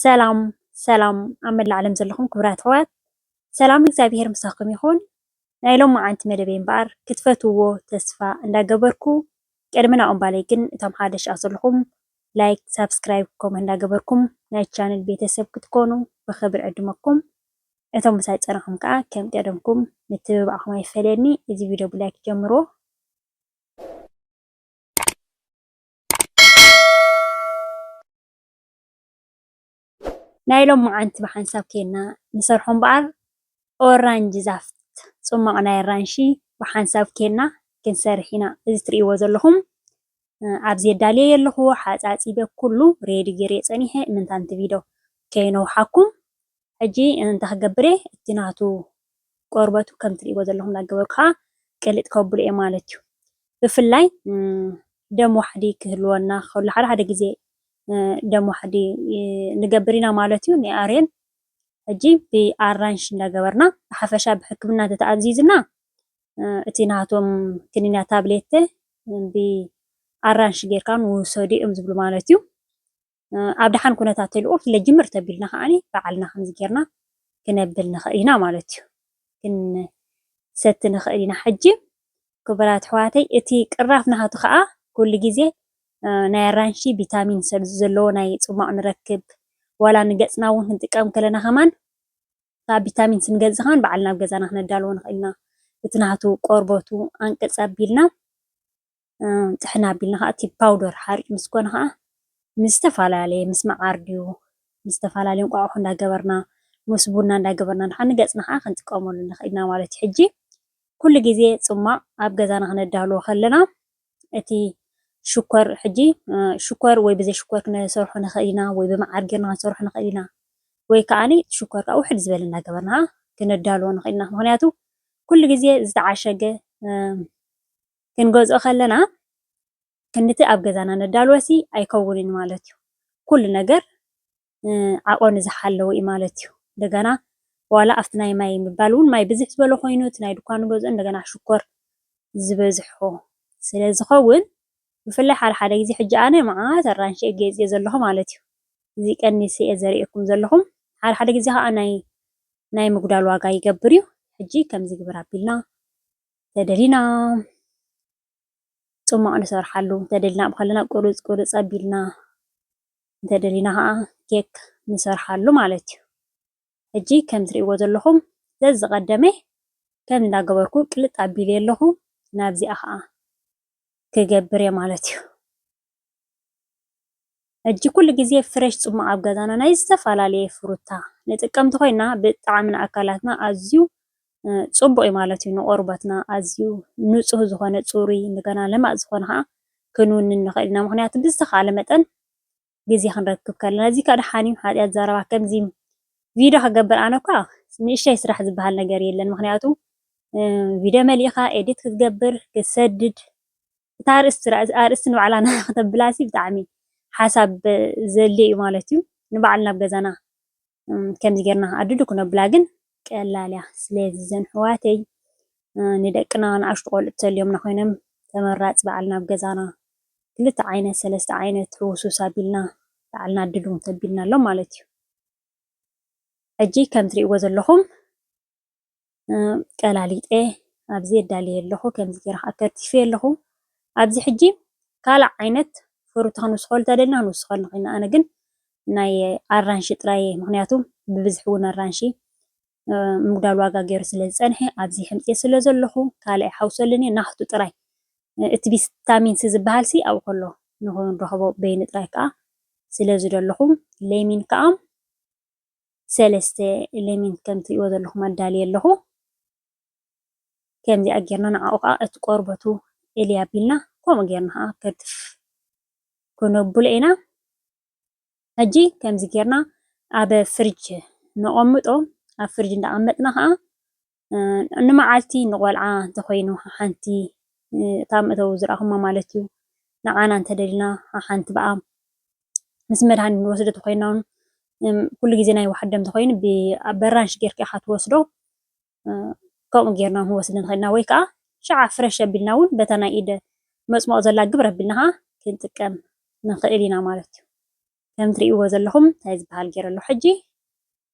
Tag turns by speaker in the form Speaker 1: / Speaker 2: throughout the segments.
Speaker 1: ሰላም ሰላም ኣብ መላእ ዓለም ዘለኹም ክቡራት ኣሕዋት ሰላም እግዚኣብሄር ምሳኹም ይኹን። ናይ ሎማዓንቲ መደበይ እምበኣር ክትፈትውዎ ተስፋ እንዳገበርኩ ቅድሚ ናብኡ እምባለይ ግን እቶም ሓደሽ ኣብ ዘለኹም ላይክ ሳብስክራይብ ከምኡ እንዳገበርኩም ናይ ቻነል ቤተሰብ ክትኮኑ ብኽብሪ ዕድመኩም እቶም ምሳይ ፀናኹም ከዓ ከም ቀደምኩም ምትብባዕኹም ኣይፈለየኒ እዚ ቪድዮ ብላይክ ጀምሮ ናይ ሎምዓንቲ ብሓንሳብ ኬንና ንሰርሖ እምበኣር ኦራንጂ ዛፍት ጹማቕ ናይ ኣራንሺ ብሓንሳብ ኬንና ክንሰርሕ ኢና እዚ ትርእይዎ ዘለኹም ኣብዚ ኣዳልየዮ ኣለኹ ሓጻጺበ ኩሉ ሬዲ ጌርዮ ጸኒሐ እምንታንቲ ቪዶ ከይነውሓኩም ሕጂ እንታይ ክገብር እየ እቲ ናቱ ቆርበቱ ከም ትሪእዎ ዘለኹም እናገበርኩ ከዓ ቅልጥ ከብሎ እየ ማለት እዩ። ብፍላይ ደም ዋሕዲ ክህልወና ከሎ ሓደ ሓደ ግዜ ደም ዋሕዲ ንገብር ኢና ማለት እዩ ናይ ኣሬን ሕጂ ብኣራንሽ እንዳገበርና ብሓፈሻ ብሕክምና ተተኣዚዝና እቲ ናቶም ክኒና ታብሌት ብኣራንሽ ጌርካ ንውሰዱ እዮም ዝብሉ ማለት እዩ። ኣብ ደሓን ኩነታት ተልእኮ ክለጅምር ተቢልና ከዓኒ ባዕልና ከምዚ ጌርና ክነብል ንኽእል ኢና ማለት እዩ። ክንሰቲ ንኽእል ኢና። ሕጂ ክቡራት ኣሕዋተይ እቲ ቅራፍ ናሃቱ ከኣ ኩሉ ግዜ ናይ ኣራንሺ ቪታሚን ሰብ ዘለዎ ናይ ጽሟቕ ንረክብ ዋላ ንገጽና እውን ክንጥቀም ከለና ከማን ካብ ቪታሚን ስንገዝእ ከማን ባዕልና ኣብ ገዛና ክነዳልዎ ንኽእል ኢና። እቲ ናሃቱ ቆርበቱ ኣንቅጽ ኣቢልና ጥሕን ኣቢልና ኸዓ እቲ ፓውደር ሓሩጭ ምስ ኮነ ኸዓ ምስ ዝተፈላለየ ምስ መዓር ድዩ ምስ ዝተፈላለየ እንቋቁሖ እንዳገበርና ምስ ቡና እንዳገበርና ኸዓ ንገፅና ኸዓ ክንጥቀመሉ ንኽእል ኢና ማለት እዩ። ሕጂ ኩሉ ግዜ ፅሟቕ ኣብ ገዛና ክነዳልዎ ከለና እቲ ሽኮር ሕጂ ሽኮር ወይ ብዘይ ሽኮር ክንሰርሖ ንኽእል ኢና ወይ ብመዓር ጌርና ክንሰርሖ ንኽእል ኢና ወይ ኸዓ ሽኮር ኸዓ ውሕድ ዝበለ እንዳገበርና ኸዓ ክነዳልዎ ንኽእል ኢና ምኽንያቱ ኩሉ ግዜ ዝተዓሸገ ክንገዝኦ ከለና ክንድቲ ኣብ ገዛና ነዳልወሲ ኣይከውንን ማለት እዩ። ኩሉ ነገር ዓቐኑ ዝሓለወ እዩ ማለት እዩ። እንደገና ዋላ ኣብቲ ናይ ማይ ምባል እውን ማይ ብዝሕ ዝበለ ኮይኑ እቲ ናይ ድኳን ንገዝኦ እንደገና ሽኮር ዝበዝሖ ስለ ዝኸውን ብፍላይ ሓደ ሓደ ግዜ ሕጂ ኣነ መዓት ኣራንሺ እየ ገይፅየ ዘለኹ ማለት እዩ። እዚ ቀኒሰ እየ ዘርእየኩም ዘለኹ። ሓደ ሓደ ግዜ ከዓ ናይ ናይ ምጉዳል ዋጋ ይገብር እዩ። ሕጂ ከምዚ ግበር ኣቢልና ተደሊና ፅሟቕ ንሰርሓሉ፣ እንተደሊና ኣብ ከለና ቁርፅ ቁርፅ ኣቢልና እንተደሊና ከዓ ኬክ ንሰርሓሉ ማለት እዩ። ሕጂ ከም ትርእይዎ ዘለኹም ዘዝቐደመ ከም እንዳገበርኩ ቅልጥ ኣቢለ ኣለኹ ናብዚኣ ከዓ ክገብር እየ ማለት እዩ። ሕጂ ኩሉ ግዜ ፍሬሽ ጽሟቅ ኣብ ገዛና ናይ ዝተፈላለየ ፍሩታ ንጥቀምቲ ኮይና ብጣዕሚ ንኣካላትና ኣዝዩ ጽቡቅ እዩ ማለት እዩ ንቆርበትና ኣዝዩ ንጹህ ዝኮነ ጽሩይ እንደገና ለማጽ ዝኮነ ከኣ ክንውንን ንክእል ኢና ምክንያቱ ብዝተካለ መጠን ግዜ ክንረክብ ከለና እዚ ከኣ ደሓን እዩ ሓጥያት ዘረባ ከምዚ ቪድዮ ክገብር ኣነ እኳ ንእሽተይ ስራሕ ዝበሃል ነገር የለን ምክንያቱ ቪድዮ መሊእካ ኤዲት ክትገብር ክትሰድድ እታ ኣርእስቲ ኣርእስቲ ንባዕላ ከተብላሲ ብጣዕሚ ሓሳብ ዘድልዮ እዩ ማለት እዩ። ንባዕልና ኣብ ገዛና ከምዚ ጌርና ኣድዱ ክነብላ ግን ቀላል እያ። ስለዚ እዘን ኣሕዋተይ ንደቅና ንኣሽቱ ቆልዑ ተልዮምና ኮይኖም ተመራፂ ባዕልና ኣብ ገዛና ክልተ ዓይነት ሰለስተ ዓይነት ህውስውስ ኣቢልና ባዕልና ኣድዱ ተቢልናሎም ማለት እዩ። ሕጂ ከም ትሪእዎ ዘለኹም ቀላሊጠ ኣብዚ ኣዳልየ ኣለኹ፣ ከምዚ ገይረ ከዓ ከርቲፈዮ ኣለኹ። ኣብዚ ሕጂ ካልእ ዓይነት ፍሩታ ክንውስኸሉ እንተደሊና ክንውስኸሉ ንኽእል ኢና። ኣነ ግን ናይ ኣራንሺ ጥራይ እየ ምኽንያቱ ብብዝሒ እውን ኣራንሺ ምጉዳል ዋጋ ገይሩ ስለ ዝጸንሐ ኣብዚ ሕምጥየ ስለ ዘለኹ ካልእ ኣይሓውሰሉን እየ ናህቱ ጥራይ እቲ ቪታሚን ሲ ዝበሃልሲ ኣብኡ ከሎ ንኽንረኽቦ በይኑ ጥራይ ከዓ ስለ ዝደለኹ ለሚን ከዓ ሰለስተ ኤለሜንት ከም ትሪእዎ ዘለኹም ኣዳልየ ኣለኹ። ከምዚኣ ጌርና ንዓኡ ከዓ እቲ ቆርበቱ እልይ ኣቢልና ከምኡ ጌርና ከዓ ከትፍ ክነብሎ ኢና። ሕጂ ከምዚ ጌርና ኣብ ፍርጅ ነቐምጦ ኣብ ፍርጅ እንዳቐመጥና ከዓ ንመዓልቲ ንቆልዓ እንተኾይኑ ሓሓንቲ እታ መእተዊ ዝረኣኹማ ማለት እዩ ንዓና እንተደሊና ሓሓንቲ ብኣ ምስ መድሃኒት ንወስዶ እንተኾይና ውን ኩሉ ግዜ ናይ ዋሕዲ እንተኾይኑ በራንሽ ጌርካ ኢኻ ትወስዶ ከምኡ ጌርና ውን ክንወስድ ንኽእል ኢና ወይ ከዓ ሽዓ ፍረሽ ኣቢልና ውን በታ ናይ ኢድ መፅሞቕ ዘላ ግብር ኣቢልና ኸዓ ክንጥቀም ንኽእል ኢና ማለት እዩ። ከም ትሪእዎ ዘለኹም ታይ ዝበሃል ጌረ ኣለኹ ሕጂ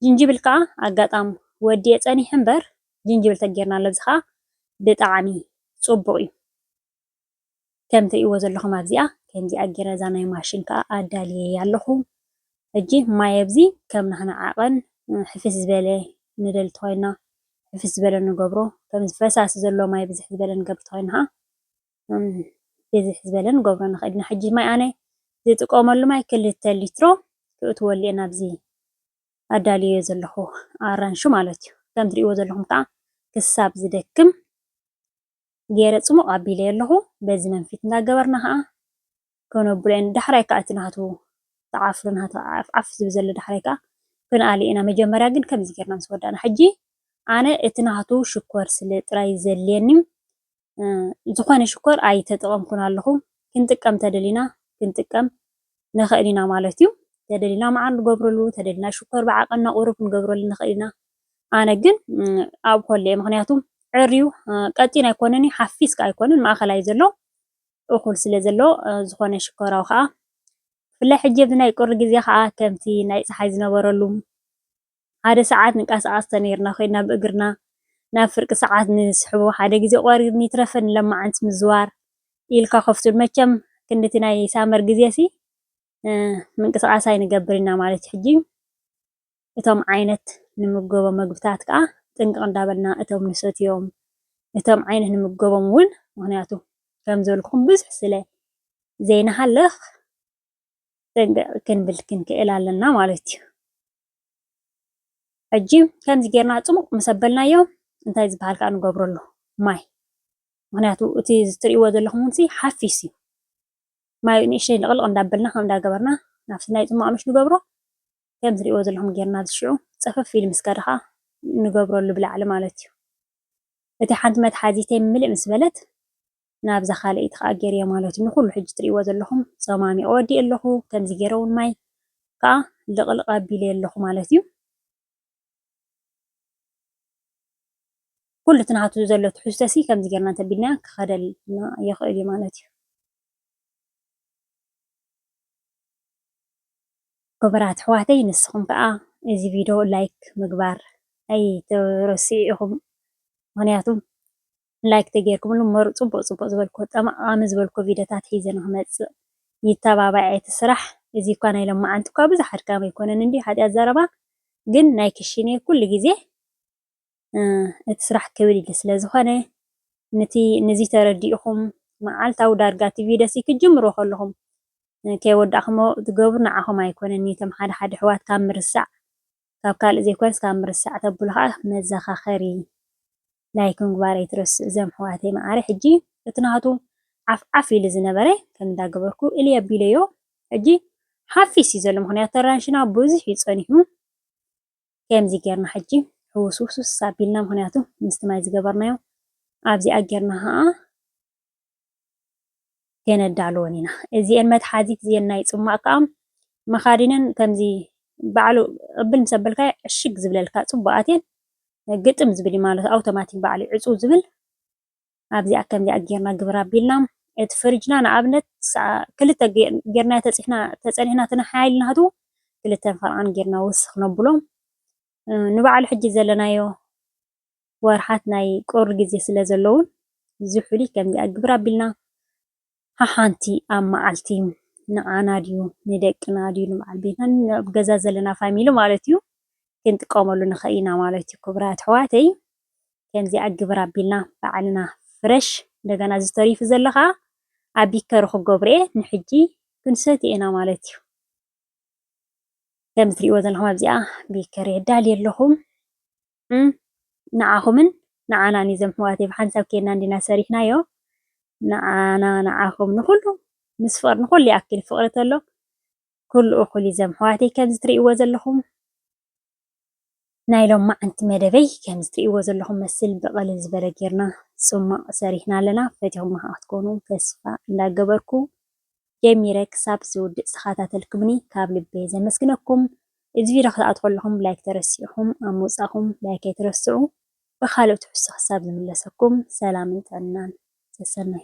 Speaker 1: ጅንጅብል ከኣ ኣጋጣም ወዲኤ ጸኒሐ እምበር ጅንጅብል ተጌርናሉ እዚ ከኣ ብጣዕሚ ጽቡቕ እዩ ከም ትሪእዎ ዘለኹም ኣብዚኣ ከምዚኣ ጌረ እዛ ናይ ማሽን ከኣ ኣዳልየያ ኣለኹ ሕጂ ማይ ኣብዚ ከም ናህና ዓቐን ሕፍስ ዝበለ ንደሊ ተኾይንና ሕፍስ ዝበለ ንገብሮ ከምዚ ፈሳሲ ዘለዎ ማይ ብዝሕ ዝበለ ንገብር ተኾይንና ከኣ ብዝሕ ዝበለ ንገብሮ ንክእል ኢና ሕጂ ማይ ኣነ ዝጥቀመሉ ማይ ክልተ ሊትሮ ክእትወሉ እየ ናብዚ ኣዳልየዮ ዘለኹ ኣራንሺ ማለት እዩ ከም ትሪእዎ ዘለኹም ከዓ ክሳብ ዝደክም ገይረ ፅሙቕ ኣቢለዮ ኣለኹ በዚ መንፊት እንዳገበርና ከዓ ከነብሎ ኢና ዳሕራይ ከኣ እቲ ናቱ ተዓፍሩ ናቱ ዓፍዓፍ ዝብል ዘሎ ዳሕራይ ከኣ ክንኣልዮ ኢና መጀመርያ ግን ከምዚ ጌርና ምስ ወዳእና ሕጂ ኣነ እቲ ናቱ ሽኮር ስለ ጥራይ ዘድልየኒ ዝኾነ ሽኮር ኣይተጠቐምኩን ኣለኹ ክንጥቀም ተደሊና ክንጥቀም ንኽእል ኢና ማለት እዩ ተደሊና መዓር ንገብረሉ ተደሊና ሽኮር ብዓቐንና ቁሩብ ክንገብረሉ ንኽእል ኢና ኣነ ግን ኣብ ኮለ ምክንያቱ ዕርዩ ቀጢን ኣይኮነን ሓፊስ ከኣ ኣይኮነን ማእኸላይ ዘሎ እኹል ስለ ዘሎ ዝኾነ ሽኮራዊ ከኣ ብፍላይ ሕጂ ኣብዚ ናይ ቁሪ ግዜ ከኣ ከምቲ ናይ ጸሓይ ዝነበረሉ ሓደ ሰዓት ንቃሳቀስ ተነይርና ኮይና ብእግርና ናብ ፍርቂ ሰዓት ንስሕቦ ሓደ ግዜ ቆሪር ንይትረፈ ንለማዓንቲ ምዝዋር ኢልካ ከፍቱል መቸም ክንድቲ ናይ ሳመር ግዜሲ ምንቅስቃስ ኣይንገብር ኢና ማለት ሕጂ እቶም ዓይነት ንምገቦም ምግብታት ከኣ ጥንቅቅ እንዳበልና እቶም ንሰትዮም እቶም ዓይነት ንምገቦም ውን ምክንያቱ ከም ዝበልኩኹም ብዙሕ ስለ ዘይንሃልኽ ጥንቅቅ ክንብል ክንክእል ኣለና ማለት እዩ። ሕጂ ከምዚ ጌርና ጽሙቅ ምስ ኣበልናዮም እንታይ ዝበሃል ከኣ ንገብረሉ ማይ ምክንያቱ እቲ ትርእይዎ ዘለኹም ውን ሓፊስ እዩ ማይ ንእሽተይ ልቅልቅ እንዳበልና ከምኡ እንዳገበርና ናብቲ ናይ ጽሟቅ ምሽ ንገብሮ ከም ትሪእዎ ዘለኹም ጌርና ኣብዚ ሽዑ ጸፈፍ ኢሉ ምስ ከደ ኸኣ ንገብረሉ ብላዕሊ ማለት እዩ። እቲ ሓንቲ መትሓዚተይ ምልእ ምስ በለት ናብዛ ካልኣይቲ ኸኣ ጌርዮ ማለት እዩ። ንኹሉ ሕጂ ትሪእዎ ዘለኹም ጸማሚቐ ወዲኤ ኣለኹ። ከምዚ ጌረ እውን ማይ ከኣ ልቕልቕ ኣቢለዮ ኣለኹ ማለት እዩ። ኩሉ እቲ ናቱ ዘሎ ትሕዝቶሲ ከምዚ ጌርና እንተቢልናዮ ክኸደልና ይኽእል እዩ ማለት እዩ። ክቡራት ኣሕዋተይ ንስኹም ከዓ እዚ ቪድዮ ላይክ ምግባር ኣይትረስዑ ኢኹም ምኽንያቱ ላይክ ተጌርኩምሉ መሩ ጽቡቅ ጽቡቅ ዝበልክዎ ጠቃሚ ዝበልክዎ ቪድዮታት ሒዘ ንክመጽእ ይተባባዔ እቲ ስራሕ እዚ እኳ ናይ ሎማዓንቲ እኳ ብዙሕ ኣድካሚ ኣይኮነን እንድዩ ሓጥያት ዘረባ ግን ናይ ክሽኔ ኩሉ ግዜ እቲ ስራሕ ክብድ ኢሊ ስለ ዝኮነ ንቲ ንዚ ተረዲኢኩም ማዓልታዊ ዳርጋ እቲ ቪድዮ ሲ ክትጅምርዎ ከለኩም ከይወዳእክሞ ትገብሩ ንዓኩም ኣይኮነን ኒቶም ሓደ ሓደ ኣሕዋት ካብ ምርሳዕ ካብ ካልእ ዘይኮነስ ካብ ምርሳዕ ተብሉ ከኣ መዘካከሪ ላይክ ምግባር ኣይትረስእ እዞም ኣሕዋተይ መዓረይ ሕጂ እቲ ናቱ ዓፍ ዓፍ ኢሉ ዝነበረ ከም እንዳ ገበርኩ እልይ ኣቢለዮ ሕጂ ሓፊስ እዩ ዘሎ ምክንያቱ ተራንሽና ብዙሕ እዩ ጸኒሑ ከምዚ ጌርና ሕጂ ሕውስውስውስ ኣቢልና ምክንያቱ ምስቲ ማይ ዝገበርናዮ ኣብዚኣ ጌርና ከኣ ከይነዳልወን ኢና። እዚኤን መትሓዚት እዚኤን ናይ ጽማቕ ከኣ መኻዲነን ከምዚ ባዕሉ ቅብል ምስ ኣበልካዮ ዕሽግ ዝብለልካ ጽቡቓት እየን። ግጥም ዝብል እዩ ማለት ኣውቶማቲክ ባዕሉ እዩ ዕጹው ዝብል። ኣብዚኣ ከምዚኣ ጌርና ግብር ኣቢልና እቲ ፍርጅና ንኣብነት ክልተ ጌርና ተጽሕና ተጸኒሕና እቲ ሓይል ናቱ ክልተን ፈልቓን ጌርና ወስኽ ነብሎ። ንባዕሉ ሕጂ ዘለናዮ ወርሓት ናይ ቁሪ ግዜ ስለ ዘለዉን ዝሑሊ ከምዚ ኣግብር ኣቢልና ሓሓንቲ ኣብ መዓልቲ ንዓና ድዩ ንደቅና ድዩ ንበዓል ቤትና ንኣብ ገዛ ዘለና ፋሚሊ ማለት እዩ ክንጥቀመሉ ንኽእል ኢና ማለት እዩ ክቡራ ኣሕዋተይ ከምዚ ኣግብር ኣቢልና በዓልና ፍረሽ እንደገና ዝተሪፉ ዘሎ ከዓ ኣብ ቢከሪ ክገብሩ እየ ንሕጂ ክንሰትዮ ኢና ማለት እዩ ከም እትሪእዎ ዘለኹም ኣብዚኣ ቢከሪ ኣዳልየ ኣለኹ እም ንዓኹምን ንዓናን እዩ ዘምሕዋተይ ብሓንሳብ ኬድና እንዲና ሰሪሕናዮ ንዓና ንዓኹም ንኹሉ ምስ ፍቕሪ ንኹሉ ይኣክል ፍቕሪ ተሎ ኩሉ እኹል እዩ ዘምሕዋተይ ከምዚ ትርእይዎ ዘለኹም ናይ ሎማዓንቲ መደበይ ከምዚ ትርእይዎ ዘለኹም መስል ብቐልል ዝበለ ጌርና ጽማቕ ሰሪሕና ኣለና ፈቲኹም ክትኮኑ ተስፋ እንዳገበርኩ ጀሚረ ክሳብ ዝውድእ ዝተኸታተልኩምኒ ካብ ልበየ ዘመስግነኩም። እዚ ቪድዮ ክትኣትዉ ከለኹም ላይክ ተረሲዕኩም ኣብ ምውጻእኩም ላይክ ኣይትረስዑ። ብኻልእ ትሕዝቶ ክሳብ ዝምለሰኩም ሰላምን ጥዕናን ሰሰናዩ።